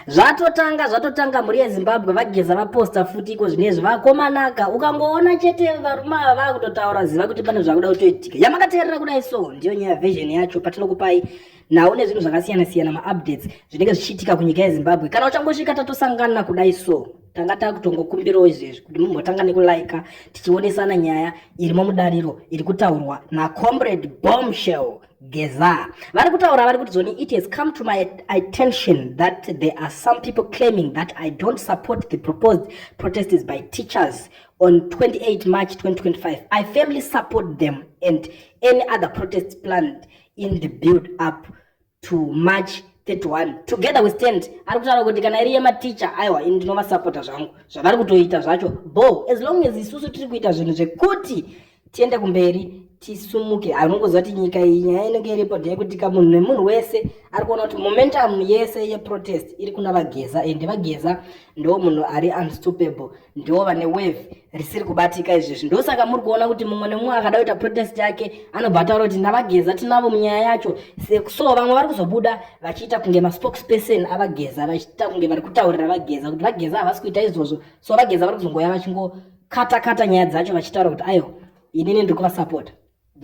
zvatotanga zvatotanga mhuri yezimbabwe vageza vaposta futi iko zvinezvi vakomanaka ukangoona chete varume ava vakutotaura ziva kuti pane zvakuda kutoitika yamakateerera kudai so ndiyo nyaya version yacho patinokupai nhau nezvinhu zvakasiyana siyana maupdates zvinenge zvichiitika kunyika yezimbabwe kana uchangosvika tatosangana kudai so tanga takutongokumbirawo izvezvi kuti mumbotanga nekulaika tichionesana nyaya irimo mudariro iri kutaurwa nacomrade bombshell Geza vari kutaura vari kuti zoni it has come to my attention that there are some people claiming that I don't support the proposed protests by teachers on 28 March 2025. I firmly support them and any other protests planned in the build up to March 31 together we stand ari kutaura kuti kana iri yematicha aiwa ini ndinovasapota zvangu zvavari kutoita zvacho bo as long as isusu tiri kuita zvinhu zvekuti tiende kumberi tisumuke anongoziva kuti nyika iyi nyaya inenge iripo ndeyekuti ka munhu nemunhu wese ari kuona kuti momentum yese yeprotest iri kuna vageza ende vageza ndo munhu ari unstoppable ndo vane wave risiri kubatika izvezvi ndosaka muri kuona kuti mumwe nemumwe akada kuita protest yake anobva ataura kuti ndavageza tinavo munyaya yacho so vamwe vari kuzobuda vachiita kunge maspokesperson avageza vachiita kunge vari kutaurira vageza kuti vageza havasi kuita izvozvo so vageza vari kuzongouya vachingo kata kata nyaya dzacho vachitaura kuti aiwa inini ndiri kuvasapota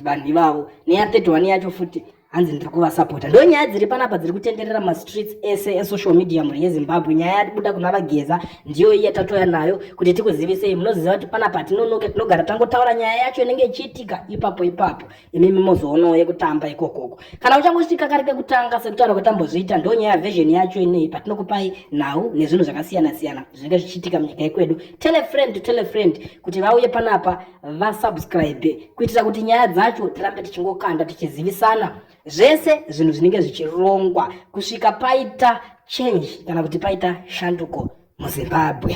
vanhu ivavo neya 31 yacho futi hanzi ndiri kuvasapota ndo nyaya dziri panapa dziri kutenderera mastreets ese esocial media mhuri yezimbabwe nyaya yatibuda kuna vageza ndiyo iya tatoya nayo kuti tikuzivisei munoziva kuti panapa tinonoke tinogara tangotaura nyaya yacho inenge ichiitika ipapo ipapo imimi mozoonawo yekutamba ikokoko kana uchange uchiti kari kekutanga sekutaura kwetambozviita ndo nyaya version yacho inei patinokupai nhau nezvinhu zvakasiyana siyana zvinenge zvichiitika munyika yekwedu tele friend to tele friend kuti vauye panapa vasubscribe kuitira kuti nyaya dzacho tirambe tichingokanda tichizivisana zvese zvinhu zvinenge zvichirongwa kusvika paita change kana kuti paita shanduko muzimbabwe